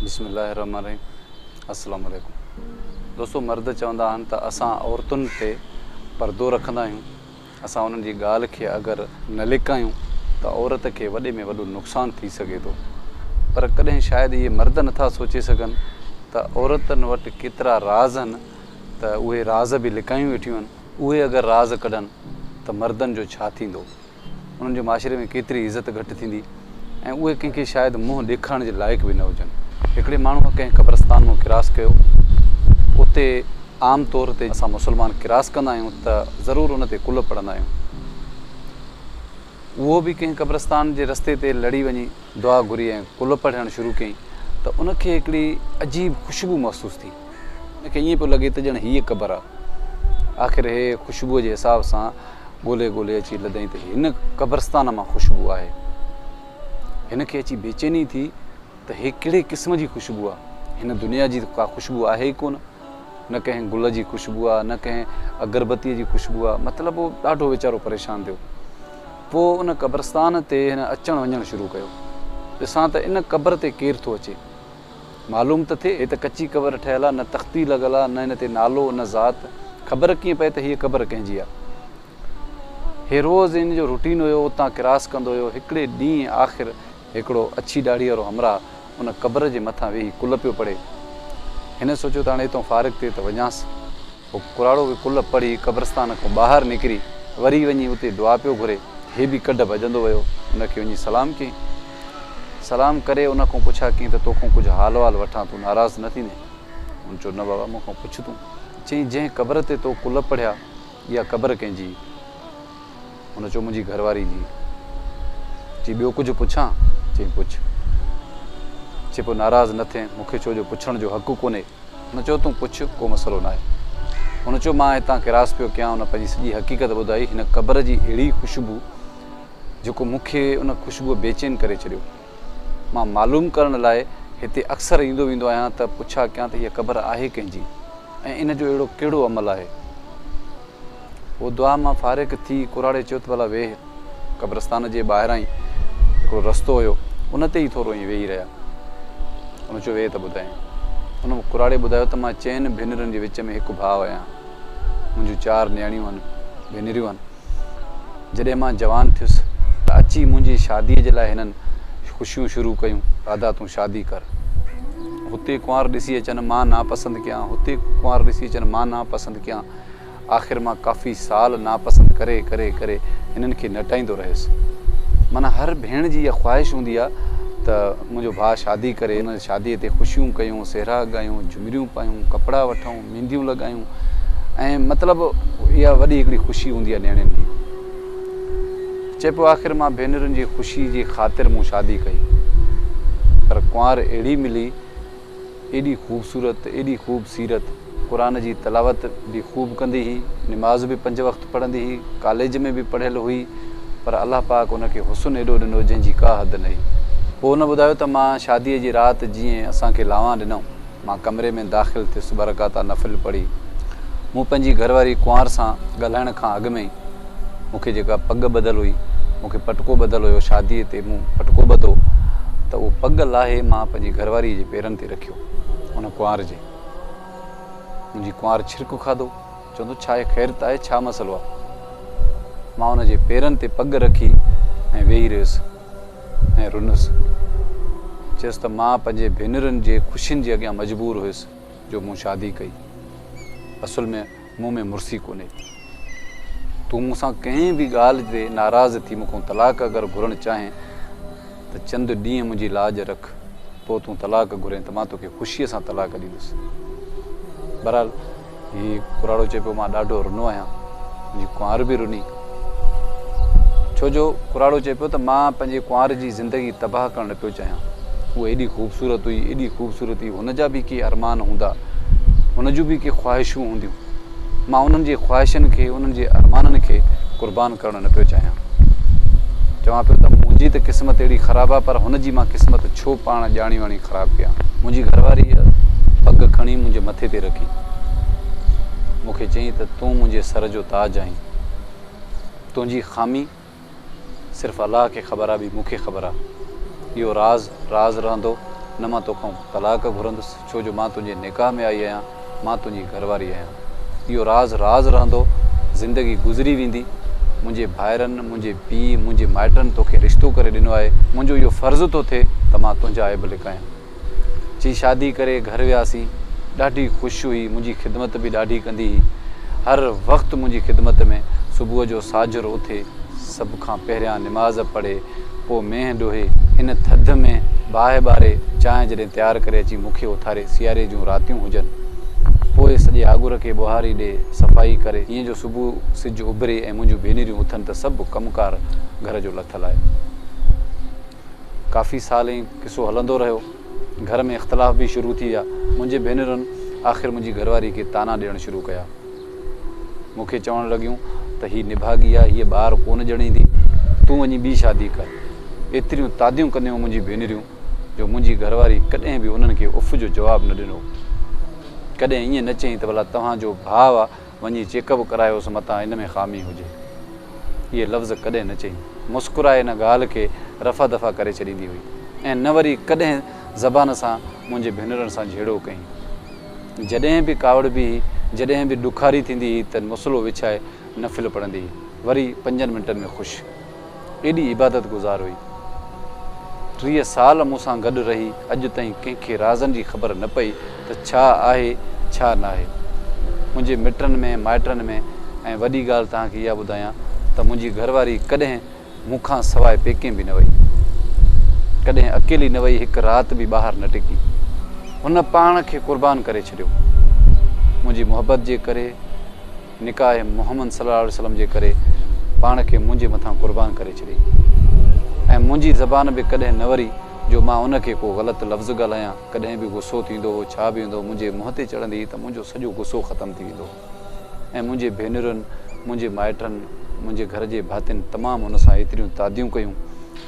بسم الله الرحمٰن الرحيم السلام عليڪم دوستو مرد چوندا آهن ته اسان عورتن تي پردو رکندا آهيون اسان انهن جي ڳالهه کي اگر نه لڪايون ته عورت کي وڏي ۾ وڏو نقصان ٿي سگهي ٿو پر ڪڏهن شايد اهي مرد نٿا سوچي سگهن ته عورتن وٽ ڪيترا راز آهن ته اهي راز به لڪايون ويٺيون آهن اهي اگر راز ڪڍن ته مردن جو ڇا ٿيندو. انهن جي معاشري ۾ ڪيتري عزت گهٽ ٿيندي ۽ اهي ڪنهن کي شايد منهن ڏيکارڻ جي لائق به نه هجن. هڪڙي ماڻهوء ڪنهن قبرستان مان ڪراس ڪيو. اتي عام طور تي اسان مسلمان ڪراس ڪندا آهيون ته ضرور ان تي قلعه پڙهندا آهيون. اهو به ڪنهن قبرستان جي رستي تي لڙي وڃي دعا گهري ۽ قلعه پڙهڻ شروع ڪيائين ته ان کي هڪڙي عجيب خوشبو محسوس ٿي. ان کي ائين پيو لڳي ته ڄڻ هيء قبر آ. آخر هيء خوشبوء جي حساب سان ڳولي ڳولي اچي لڌئين ته هن قبرستان مان خوشبو آهي. هن کي اچي بيچيني ٿي ته هيء ڪهڙي قسم جي خوشبو آ. هن دنيا جي ته ڪا خوشبو آهي ئي ڪونه. نه ڪنهن گل جي خوشبو آ، نه ڪنهن اگربتيء جي خوشبو آ. مطلب هو ڏاڍو ويچارو پريشان ٿيو. پوء ان قبرستان تي هن اچڻ وڃڻ شروع ڪيو. ڏسان ته ان قبر تي ڪير ٿو اچي. معلوم ته ٿئي، هي ته ڪچي قبر ٺهيل آ، نه تختي لڳل آ، نه هن تي نالو، نه ذات. خبر ڪيئن پئي ته هيء قبر ڪنهن جي آ؟ هي روز هن جو روٽين هيو، اتان ڪراس ڪندو هيو. هڪڙي ڏينهن آخر هڪڙو اڇي ڏاڙهيء وارو همراهه ان قبر جي مٿان ويهي ڪل پيو پڙهي. هن سوچيو ته هاڻي هتان فارغ ٿي ته وڃانس. پوء ڪراڙو به ڪلهه پڙهي قبرستان کان ٻاهر نڪري وري وڃي اتي دعا پيو گهري. هي به ڪڍ ڀڄندو ويو ان کي وڃي سلام ڪيائين. سلام ڪري ان کان پڇا ڪيائين ته تو کان ڪجهه حال وال وٺان تون ناراض نه ٿيندين؟ ان چيو نه بابا مون کان پڇ تون. چيائين جنهن قبر تي تو ڪلهه پڙهيا اها قبر ڪنهن جي؟ ان چيو منهنجي گهر واري جي. چي ٻيو ڪجهه پڇان؟ چيائين پڇ. چي پوء ناراض نه ٿين مون کي ڇو جو پڇڻ جو حق ڪونهي. هن چيو تون پڇ ڪو مسئلو ناهي. هن چيو مان هتان ڪراس پيو ڪيان هن پنهنجي سڄي حقيقت ٻڌائي هن قبر جي اهڙي خوشبو جيڪو مون کي ان خوشبوء بيچين ڪري ڇڏيو. مان معلوم ڪرڻ لاء هتي اڪثر ايندو ويندو آهيان ته پڇا ڪيان ته هيء قبر آهي ڪنهن جي ۽ ان جو اهڙو ڪهڙو عمل آهي. هو دعا مان فارغ ٿي ڪراڙي چيو ته ڀلا ويهه. قبرستان جي ٻاهرائين هڪڙو رستو هيو، ان تي ئي ٿورو ائين ويهي رهيا. هن چيو ويهه ته ٻڌايائين. هن ڪراڙي ٻڌايو ته مان چئن ڀينرن جي وچ ۾ هڪ ڀاء آهيان. منهنجون چار نياڻيون هن، ڀينريون هن. جڏهن مان جوان ٿيس ته اچي منهنجي شاديء جي لاء هنن خوشيون شروع ڪيون. راڌا تون شادي ڪر. هتي ڪنوار ڏسي اچن مان ناپسند ڪيان، هتي ڪنوار ڏسي اچن مان ناپسند ڪيان. آخر مان ڪافي سال ناپسند ڪري ڪري ڪري هنن کي نٽائيندو رهيس. معنيٰ هر ڀيڻ جي اها خواهش هوندي آ ته منهنجو ڀاء شادي ڪري، ان شاديء تي خوشيون ڪيون، سهرا ڳايون، جهمريون پايون، ڪپڙا وٺون، مينديون لڳايون ۽ مطلب اها وڏي هڪڙي خوشي هوندي آ نياڻين جي. چئبو آخر مان ڀينرن جي خوشي جي خاطر مون شادي ڪئي. پر ڪنوار اهڙي ملي، ايڏي خوبصورت، ايڏي خوب سيرت، قرآن جي تلاوت به خوب ڪندي هئي، نماز به پنج وقت پڙهندي هئي، ڪاليج ۾ به پڙهيل هئي، پر الله پاڪ ان کي حسن ايڏو ڏنو جنهن جي ڪا حد نهي. پوء هن ٻڌايو ته مان شاديء جي رات جيئن اسان کي لانوان ڏنائون، مان ڪمري ۾ داخل ٿيس ٻه رڪعتا نفل پڙهي، مون پنهنجي گهر واري ڪنوار سان ڳالهائڻ کان اڳ ۾ ئي، مون کي جيڪا پڳ ٻڌل هئي، مون کي پٽڪو ٻڌل هيو، شاديء تي مون پٽڪو ٻڌو ته اهو پڳ لاهي مان پنهنجي گهر واريء جي پيرن تي رکيو. ان ڪنوار جي منهنجي ڪنوار ڇرڪ کاڌو، چوندو ڇا هي خيرت آهي، ڇا مسئلو آهي؟ مان ان جي پيرن تي پڳ رکي ۽ ويهي رهيس ۽ رنس. چيس ته مان پنهنجي ڀينرن جي خوشين جي اڳيان مجبور هيس جو مون شادي ڪئي. اصل ۾. مون ۾ مڙسي ڪونهي. تون مون سان ڪنهن به ڳالهه تي ناراض ٿي مون کان طلاق اگر گهرڻ چاهين ته چند ڏينهن منهنجي لاڄ رک. پوء تون طلاق گهرين ته مان توکي خوشيء سان طلاق ڏيندس. بهرحال هي ڪراڙو چئي پيو مان ڏاڍو رنو آهيان. منهنجي ڪنوار به رني. ڇو جو ڪراڙو چئي پيو ته مان پنهنجي ڪنوار جي زندگي تباهه ڪرڻ نه پيو چاهيان. هوء ايڏي خوبصورت هئي، ايڏي خوبصورت هئي، هن جا به ڪي ارمان هوندا، هن جون به ڪي خواهشون هونديون. مان انهن جي خواهشن کي، انهن جي ارمانن کي قربان ڪرڻ نه پيو چاهيان. چوان پيو ته منهنجي ته قسمت اهڙي خراب آ پر هن جي مان قسمت ڇو پاڻ ڄاڻي واڻي خراب ڪيان. منهنجي گهرواريء پڳ کڻي منهنجي مٿي تي رکي مون کي چيائين ته تون منهنجي سر جو تاج آهين. تنهنجي خامي صرف الله کي خبر آ ٻي مون کي خبر آ اهو راز راز رهندو نه مان توکان طلاق گهرندس ڇو جو مان تنهنجي نڪاح ۾ آئي آهيان مان تنهنجي گهر واري آهيان اهو راز راز رهندو زندگي گذري ويندي منهنجي ڀائرن منهنجي پيء منهنجي مائٽن توکي رشتو ڪري ڏنو آهي منهنجو اهو فرض ٿو ٿئي ته مان تنهنجا عيب لڪايان. چي شادي ڪري گهر وياسين، ڏاڍي خوش هئي، منهنجي خدمت به ڏاڍي ڪندي هئي، هر وقت منهنجي خدمت ۾، صبح جو ساجهر اٿي، سڀ کان پهريان نماز پڙهي، پوء مينهن ڊوهي، ان ٿڌ ۾ باهه ٻاري، چانهه جڏهن تيار ڪري اچي مون کي اٿاري، سياري جون راتيون هجن، پوء سڄي آڳر کي ٻوهاري ڏئي، صفائي ڪري، هيئن جو صبح سج اڀري ۽ منهنجون ڀينريون اٿن ته سڀ ڪم ڪار گهر جو لٿل آهي. ڪافي سال ائين قصو هلندو رهيو. گهر ۾ اختلاف به شروع ٿي ويا. منهنجي ڀينرن آخر منهنجي گهرواري کي طعنا ڏيڻ شروع ڪيا. مون کي چوڻ لڳيون ته هي نڀاڳي آهي، هيء ٻار ڪونه ڄڻيندي، تون وڃي ٻي شادي ڪر. ايتريون تاديون ڪنديون منهنجي ڀينريون جو منهنجي گهرواري ڪڏهن به انهن کي اف جو جواب نه ڏنو. ڪڏهن ائين نه چيائين ته ڀلا توهان جو ڀاء وڃي چيڪ اپ ڪرايوس متان ان ۾ خامي هجي. اهي لفظ ڪڏهن نه چئي. مسڪرائي ان ڳالهه کي رفع دفع ڪري ڇڏيندي هئي ۽ نه وري ڪڏهن زبان سان منهنجي ڀينرن سان جهيڙو ڪيائين. جڏهن به ڪاوڙبي هئي، جڏهن به ڏکاري ٿيندي هئي ته مصلو وڇائي نفل پڙهندي هئي. وري پنجن منٽن ۾ خوش. ايڏي عبادت گذار هئي. ٽيهه سال مون سان گڏ رهي اڄ تائين ڪنهن کي رازن جي خبر نه پئي ته ڇا آهي ڇا ناهي. منهنجي مٽن ۾ مائٽن ۾ ۽ وڏي ڳالهه توهان کي اها ٻڌايان ته منهنجي گهر واري ڪڏهن مون کان سواء پيڪي به نه وئي. ڪڏهن اڪيلي نه وئي هڪ رات به ٻاهر نه ٽڪي. هن پاڻ کي قربان ڪري ڇڏيو منهنجي محبت جي ڪري. نڪاح محمد صلي الله عليه وسلم جي ڪري پاڻ کي منهنجي مٿان قربان ڪري ڇڏي ۽ منهنجي زبان به ڪڏهن نه وري جو مان ان کي ڪو غلط لفظ ڳالهايان ڪڏهن به غصو ٿيندو هو ڇا به هوندو منهنجي منهن تي چڙهندي هئي ته منهنجو سڄو غصو ختم ٿي ويندو هو ۽ منهنجي ڀينرن منهنجي مائٽن منهنجي گهر جي ڀاتين تمام ان سان ايتريون تاديون ڪيون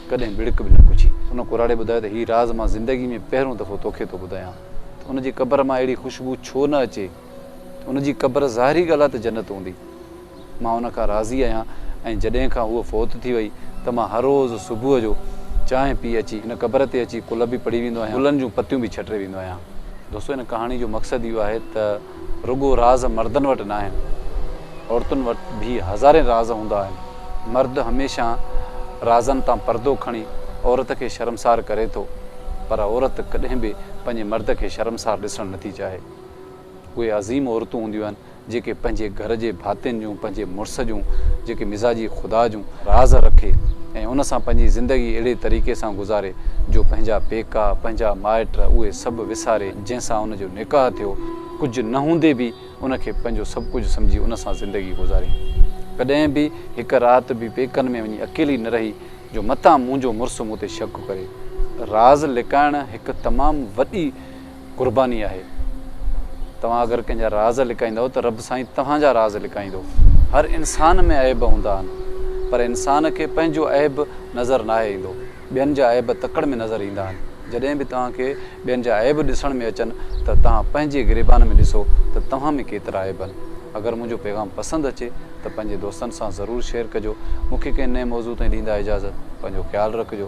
ڪڏهن ٻڙڪ به نه پڇي. ان ڪراڙي ٻڌايو ته هي راز مان زندگي ۾ پهريون دفعو توکي ٿو ٻڌايان ته ان جي قبر مان اهڙي خوشبو ڇو نه اچي؟ ان جي قبر ظاهري ڳالهه آهي ته جنت هوندي. مان ان کان راضي آهيان ۽ جڏهن کان هوء فوت ٿي وئي ته مان هر روز صبح جو چانهه پي اچي هن قبر تي اچي قل به پڙهي ويندو آهيان گلن جون پتيون به ڇٽي ويندو آهيان. دوستو هن ڪهاڻي جو مقصد اهو آهي ته رڳو راز مردن وٽ نه آهن عورتن وٽ به هزارين راز هوندا آهن. مرد هميشه رازن تان پردو کڻي عورت کي شرمسار ڪري ٿو پر عورت ڪڏهن به پنهنجي مرد کي شرمسار ڏسڻ نٿي چاهي. اهي عظيم عورتون هونديون آهن جيڪي پنهنجي گهر جي ڀاتين جون پنهنجي مڙس جون جيڪي مزاجي خدا جون راز رکي ۽ ان سان پنهنجي زندگي اهڙي طريقي سان گذاري جو پنهنجا پيڪا پنهنجا مائٽ اهي سڀ وساري جنهن سان ان جو نڪاح ٿيو ڪجهه نه هوندي به ان کي پنهنجو سڀ ڪجهه سمجهي ان سان زندگي گذاري ڪڏهن به هڪ رات به پيڪن ۾ وڃي اڪيلي نه رهي جو متان منهنجو مڙس مون تي شڪ ڪري. راز لڪائڻ هڪ تمام وڏي قرباني آهي. توهان اگر ڪنهن جا راز لڪائيندؤ ته رب سائين توهان جا راز لڪائيندو. هر انسان ۾ عيب هوندا آهن پر انسان کي پنهنجو عيب نظر ناهي ايندو. ٻين جا عيب تڪڙ ۾ نظر ايندا آهن. جڏهن به توهان کي ٻين جا عيب ڏسڻ ۾ اچن ته توهان پنهنجي گريبان ۾ ڏسو ته توهان ۾ ڪيترا عيب آهن. اگر منهنجو پيغام پسند اچي ته پنهنجي دوستن سان ضرور شيئر ڪجو. مون کي ڪنهن نئين موضوع تائين ڏيندا اجازت. پنهنجو خيال رکجو.